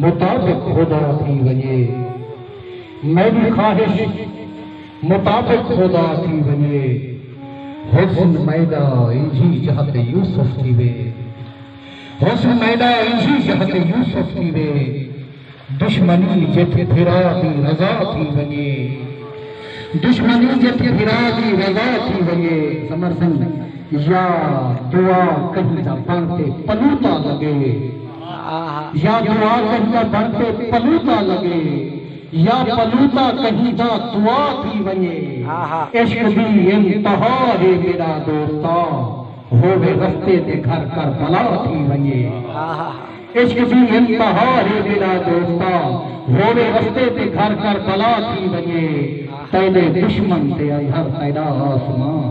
مطابق خدا تھی ونجے میݙی خواہش مطابق خدا تھی ونجے حسن میݙا انجھی جہت یوسف تھیوے حسن میݙا انجھی جہت یوسف تھیوے دشمنی جت پھرا دی رضا تھی ونجے دشمنی جت پھرا دی رضا تھی ونجے سمر سنگھ یا دعا کہیں دا پڑھ تے پلوتا لگے یا دعا کہیں بن تے پلوتا لگے یا پلوتا کہیں دا دعا تھی ونجے عشق دی انتہا ہے میرا دوستا ہوے رستے تے گھر کر بلا تھی ونجے عشق دی انتہا ہے میرا دوستا ہوے رستے تے گھر کر بلا تھی ونجے تیرے دشمن تے ہر تیرا آسمان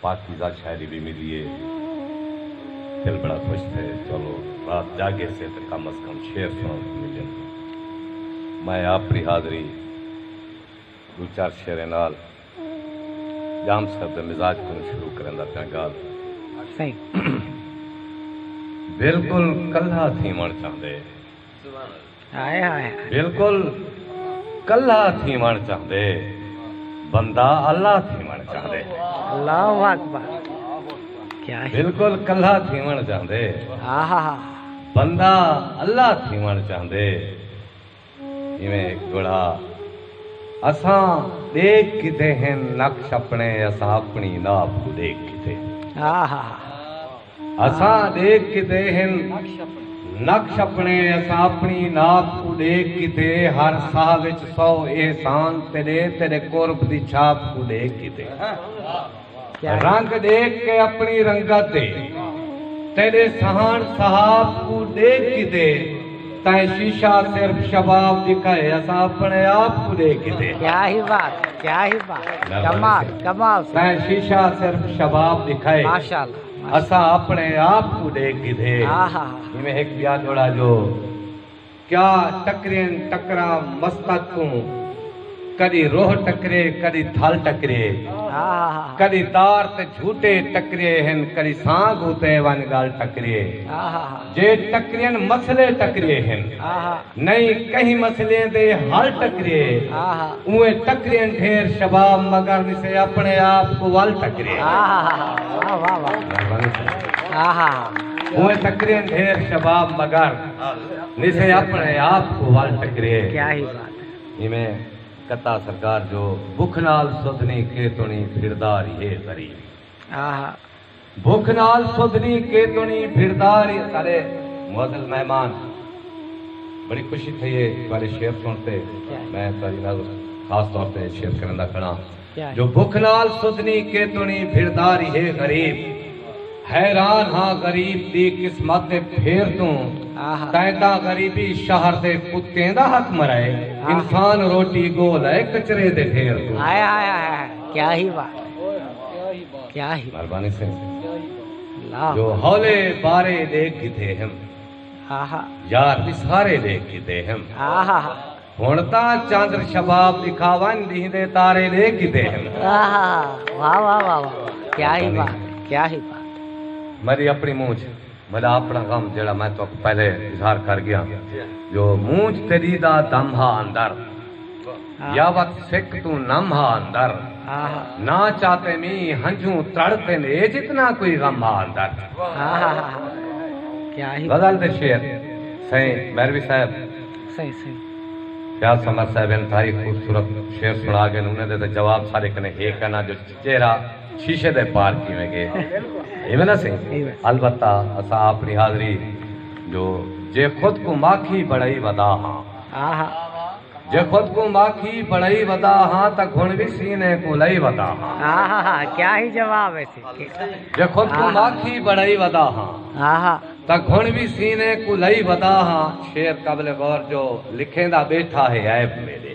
پاکیزہ شاعری وی ملی اے۔ دل بڑا خوش تھئے چلو رات جاگے سے تے کم از کم شعر سنڑن کوں ملن۔ میں آپری حاضری دو چار شعریں نال ڄام صاحب دے مزاج کنوں شروع کریندا پیاں ڳالھ۔ سائیں بلکل کلھا تھیوݨ چاہندے۔ بالکل کلھا تھیوݨ چاہندے بندہ اللہ تھیوݨ چاہندے بالکل کلھا تھیوݨ چاہندے بندہ اللہ تھیوݨ چاہندے جویں ہک گڑھا اساں ڈیکھ کیتے ہن نقش اپنے اساں اپنی ناپ کوں ڈیکھ کیتے ہن اساں ڈیکھ کیتے ہن نقش اپنے اساں اپنی ناپ کوں ڈیکھ کیتے ہر ساہ وچ سو احسان تیڈے تیڈے قرب دی چھاپ کوں ڈیکھ کیتے رنگ ڈیکھ کے اپنی رنگت دے تیڈے سہان صحاب کوں ڈیکھ کیتے تائیں شیشہ صرف شباب دکھا ہے اسا اپنے آپ کو دے کے دے کیا ہی بات کیا ہی بات کمال کمال تائیں شیشہ صرف شباب دکھا ہے ماشاءاللہ اساں اپنے آپ کوں ڈیکھ گھدے جیویں ہک بیا جوڑا جو کیا ٹکرین ٹکراں مستق کوں کدی روح ٹکرے کدی تھل ٹکرے کدی تار تے جھوٹے ٹکرے ہن کدی سانگ اتے ون گل ٹکرے جے ٹکرین مسئلے ٹکریے ہن۔ نئیں کہیں مسئلیں دے حل ٹکریے۔ اوئیں ٹکرین ڈھیر شباب مگر نسے اپنے آپ کوں ول ٹکریے۔ اوئیں ٹکرین ڈھیر شباب مگر نسے اپنے آپ کوں ول ٹکریے۔ ایویں کتا سرکار جو بکھ نال سدھ نیں کے توں نیں پھردا ریہے تری۔ بھک نال سودھنی کیتونی بھڑدار اے سارے معزز مہمان بڑی خوشی تھئی اے تہاڈے شعر سن تے میں تہاڈی نظر خاص طور تے شعر کرندا کھڑاں جو بھک نال سودھنی کیتونی بھڑدار اے غریب حیران ہاں غریب دی قسمت تے پھیر توں تیندا غریبی شہر دے کتیں دا حق مرائے انسان روٹی گول اے کچرے دے ڈھیر توں ہائے ہائے ہائے کیا ہی بات مہربانی سے جو ہولے بارے دیکھ کیتے ہم یار دی سارے دیکھ کیتے ہم ہن تا چاندر شباب دکھاون دی دے تارے دیکھ کیتے ہم واہ واہ واہ کیا ہی بات کیا ہی بات میری اپنی منہ چ بھلا اپݨا غم جیڑھا میں تہاکوں پہلے اظہار کر ڳیاں جو مونجھ تیݙی دا دم ہا اندر یا وت سک توں نم ہا اندر نہ چاتے می ہنجھوں تڑ تن اے جتنا کوئی غم ہا اندر غزل دے شعر سائیں میروی صاحب سائیں سائیں فیاض سمر صاحب انتہائی خوبصورت شعر سنا گئے انہیں دے جواب سارے کنے ہی کنا جو چہرہ شیشے دے پار کیویں گے ایویں نہ سہی البتہ اساں اپنی حاضری جو جے خود کوں ماکھی بنڑائی ودا ہاں جے خود کوں ماکھی بنڑائی ودا ہاں تاں گھن وی سینے کوں لئی ودا ہاں کیا ہی جواب ہے جے خود کوں ماکھی بنڑائی ودا ہاں تاں گھن وی سینے کوں لئی ودا ہاں شعر قابل غور جو لکھیں دا بیٹھا ہے عیب میرے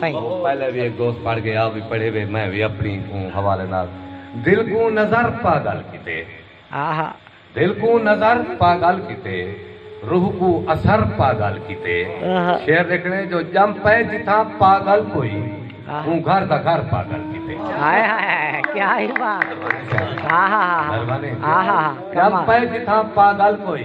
سائیں۔ پہلے وی ہک دوست پڑھ گئے آپ وی پڑھے وے میں وی اپنی کوں حوالے نال دل کوں نظر پا گل کیتے۔ آہا۔ دل کوں نظر پا گل کیتے روح کوں اثر پا گل کیتے شعر لکھنے جو جم پئے جتھاں پا گل کوئی اوں گھر دا گھر پا گل کیتے۔ ہائے ہائے کیا ہی بات آہا آہا آہا جم پئے جتھاں پا گل کوئی۔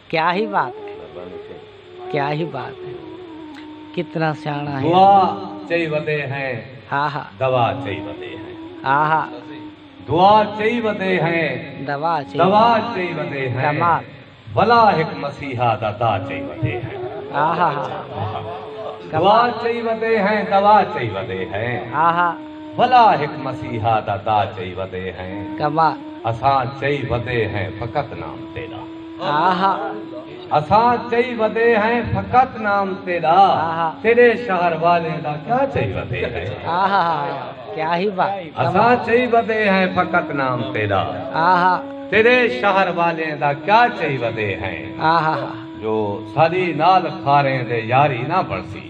کیا ہی بات ہے کیا ہی بات ہے کتنا سیانا ہے دعا چئی ودے ہیں دوا چئی ودے ہیں دعا چئی ودے ہیں دوا چئی ودے ہیں بلا ایک مسیحا دا دا چئی ودے ہیں دعا چئی ودے ہیں دوا چئی ودے ہیں بلا ایک مسیحا دا دا چئی ودے ہیں اساں چئی ودے ہیں فقط نام تیرا اساں چئی ودے ہیں فقط نام تیرا تیرے شہر والیں دا کیا چئی ودے ہیں کیا ہی بات اساں چئی ودے ہیں فقط نام تیرا تیرے شہر والیں دا کیا چئی ودے ہیں جو ساری نال کھاریں دے یاری نہ بڑسی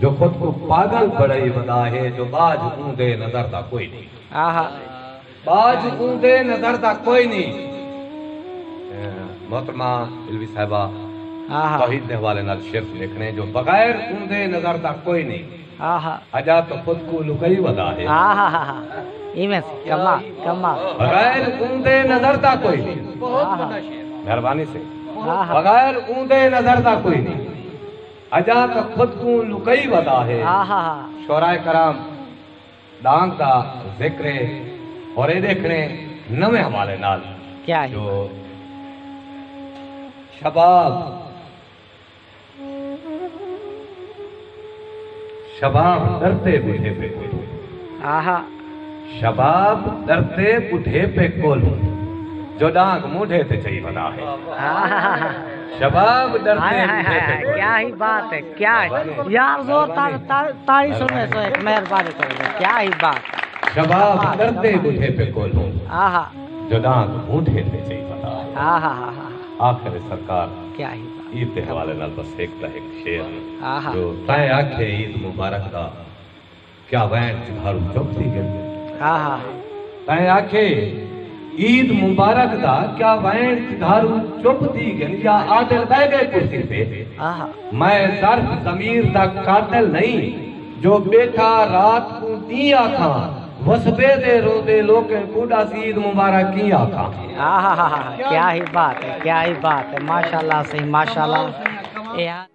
جو خود کوں پاگل بݨائی ودا ہے جو ٻاجھ اوندے نظر دا کوئی نی آہا ٻاجھ اوندے نظر دا کوئی نی محترمہ علوی صاحبہ آہا توحید دے حوالے نال شعر لکھنے جو بغیر اوندے نظر دا کوئی نی آہا اجا تو خود کوں لکئی ودا ہے آہا ہا ہا ایویں کما کما بغیر اوندے نظر دا کوئی نی بہت بڑا شعر مہربانی سے بغیر اوندے نظر دا کوئی نی اجاں تاں خود کوں لکئی ودا ہے۔ شعراء کرام ڈانگ دا ذکر ہے اور اے ڈیکھنے نویں حوالے نال جو شباب شباب ڈرتے بڈھے پے۔ شباب ڈردے بڈھیپے کولوں جو ڈانگ مونڈھے تے چئی ودا ہے شباب ڈردے بڈھیپے کولوں کیا ہی بات ہے کیا ہے یار زور تاڑی سنے سو ایک مہربانی کرو کیا ہی بات شباب ڈردے بڈھیپے کولوں جو ڈانگ مونڈھے تے چئی ودا ہے آخر سرکار کیا ہی عید دے حوالے نال بس ایک دا ایک شعر جو تائیں آکھے عید مبارک دا کیا وین چنگھارو چپ تھی گئے ہا ہا تائیں آکھے عید مبارک دا کیا وین چنگھارو چپ تھی گئے یا عادل بہ گئے کرسی پہ میں درد ضمیر دا قاتل نہیں جو بیٹھا رات کو دی آکھا وسبے دے رو دے لوکے کوڈا سید مبارک کی آکھا کیا ہی بات ہے کیا ہی بات ہے ماشاءاللہ صحیح ماشاءاللہ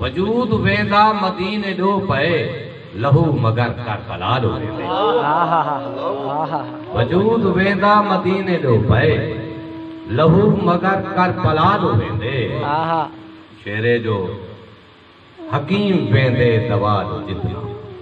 وجود ویندا مدینے ڈو پئے لہو مگر کربلا ڈو ویندے وجود ویندا مدینے ڈو پئے لہو مگر کربلا ڈو ویندے شیرے جو حکیم ویندے دوا ڈو جتنا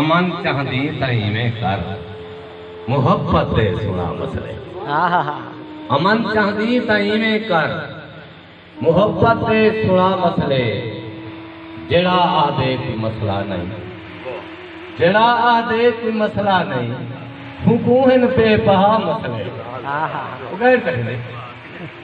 امن چاہندیں تاں ایویں کر محبت دے سنڑا مسئلے امن چاہندیں تاں ایویں کر محبت دے سنڑا مسئلے جیڑا آہدے کوئی مسئلہ نئیں جیڑا آہدے کوئی مسئلہ نئیں ہوں کوہن پہ پہا مسئلے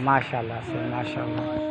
ماشاءاللہ سر ماشاءاللہ۔